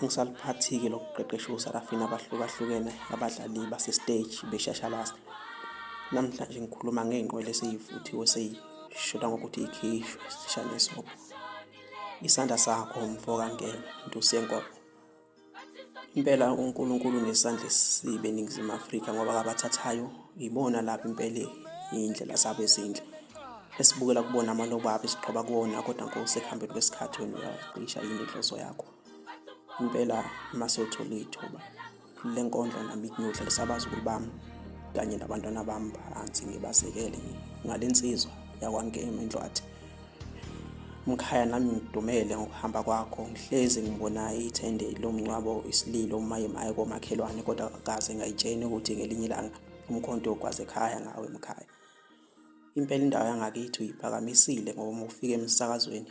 Angisaliphathi-ke lokuqeqesha osarafini abahlukahlukene abadlali basesiteji beshashalazi. Namhlanje ngikhuluma ngey'nqwele eseyivuthiwe seyishoda ngokuthi ikhishwe sishane isobho. Isandla sakho mfo kangena ntusi yenkomo. Impela uNkulunkulu nesandla esibe eNingizimu Afrika ngoba kabathathayo yibona lapha impela iy'ndlela zabo ezinhle. Esibukela kubona amalobo abo esiqhoba kuwona kodwa nkosi ekuhambeni kwesikhathi wena uyacisha yini inhloso yakho. impela masewuthola ithuba le nkondlo nami ngiyodlalisa abazukulu bami kanye nabantwana bami phansi ngibasekele ngale nsizwa yakwangema indlwathi mkhaya nami ngidumele ngokuhamba kwakho ngihlezi ngibona ithende lomncwabo isililo umayemaye komakhelwane kodwa kaze ngayitsheni ukuthi ngelinye ilanga umkhonto ogwaze ekhaya ngawe mkhaya impela indawo yangakithi uyiphakamisile ngoba uma ufika emsakazweni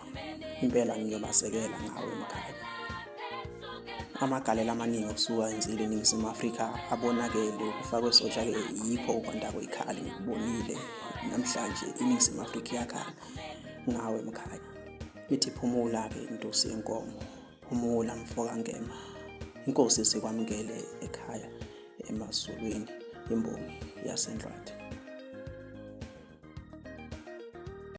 impela ngiyobasekela ngawo umkhaya amagalela amaningi okusuka enzile eningizimu afrika abonakele ukufakwe sotsha-ke yikho ukwanda kwekhali ngikubonile namhlanje iningizimu afrika iyakhala ngawe mkhaya ithi phumula-ke intusi yenkomo phumula mfokangema inkosi sikwamukele ekhaya emazulwini imbongi yasendlwati